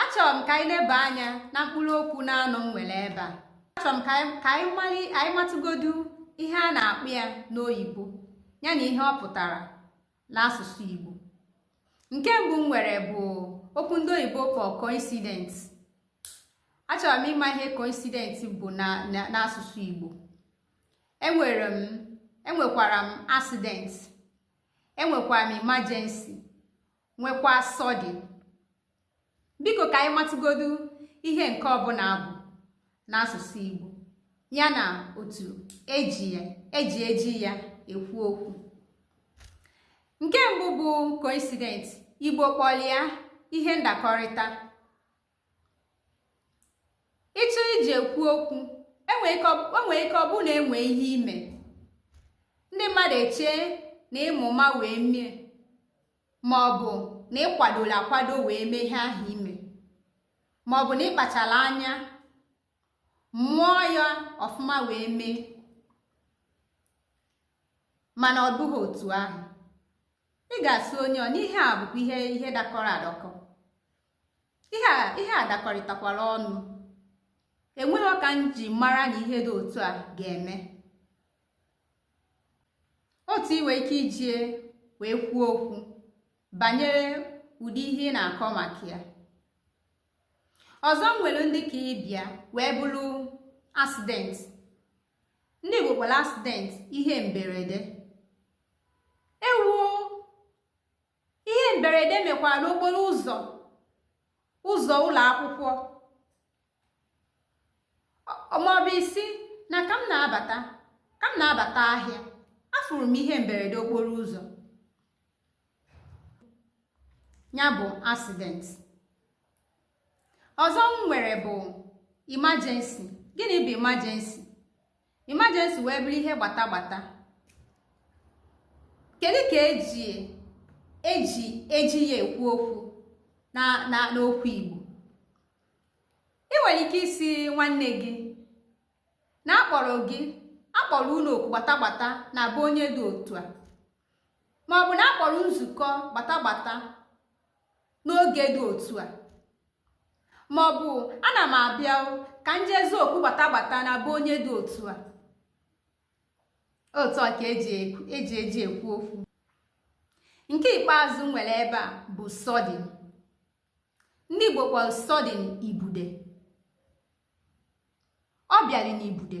achọrọ m ka anyị leba anya na mkpụrụ okwu na-anọ m nwere ebe a achọrọ m ka anyị- ka anyị mali anyị matụgodu ihe a na-akpọ ya n'oyibo ya na ihe ọ pụtara n'asụsụ igbo nke mbụ m nwere bụ okwu ndị oyibo kpọrọ coincident achọrọ m ịma ihe coincident bụ na na- n'asụsụ igbo enwere m enwekwara m accident enwekwara m emergency nwekwa sudden biko ka anyị matụgodu ihe nke ọbụla bụ n'asụsụ Igbo ya na otu eji ya eji eji ya ekwu okwu nke mbụ bụ coincidence Igbo kpọlụ ya ihe ndakọrịta ịchọ iji ekwu okwu enwere ike ọ- o nwere ike ọ bụrụ na enwe ihe ime ndị mmadụ echee na ịma ụma wee mee ma ọ bụ na ịkwadola akwado wee mee ihe ahụ ime ma ọ bụ na ịkpachara anya mụọ ya ọfụma wee mee mana ọ bụghị otu ahụ ị ga-asị onye ahụ n'ihe a bụkwa ihe ihe dakọrọ adakọ ihe a dakọrịtakwara ọnụ enweghị ka m ji mara na ihe dị otu a ga-eme otu i nwere ike iji ya wee kwuo okwu banyere ụdị ihe ị na-akọ maka ya ọzọ m nwere ndị ka ịbịa wee bụrụ accident ndị Igbo kpọrọ accident ihe mberede ewuo ihe mberede mekwara n'okporo ụzọ ụzọ ụlọ akwụkwọ maọbụ ị sị na ka m na-abata ka m na-abata ahịa afụrụ m ihe mberede okporo ụzọ ya bụ accident ọzọ m nwere bụ emergency gịnị bụ emergency emergency wee bụrụ ihe gbata gbata kedu ka eji eji eji ya ekwu okwu na na n'okwu igbo ị nwere ike ịsị nwanne gị na akpọrọ gị akpọrọ unu oku gbata gbata na be onye dị otu a ma ọ bụ na akpọrọ nzukọ gbata gbata n'oge dị otu a ma ọ bụ ana m abịa ka m jee zaa oku gbata gbata na be onye dị otu a otu a ka eji eji e e ekwu okwu nke ikpeazụ nwere ebe a bụ sudden ndị Igbo kpọrọ sudden ibude ọ bịara n'ibude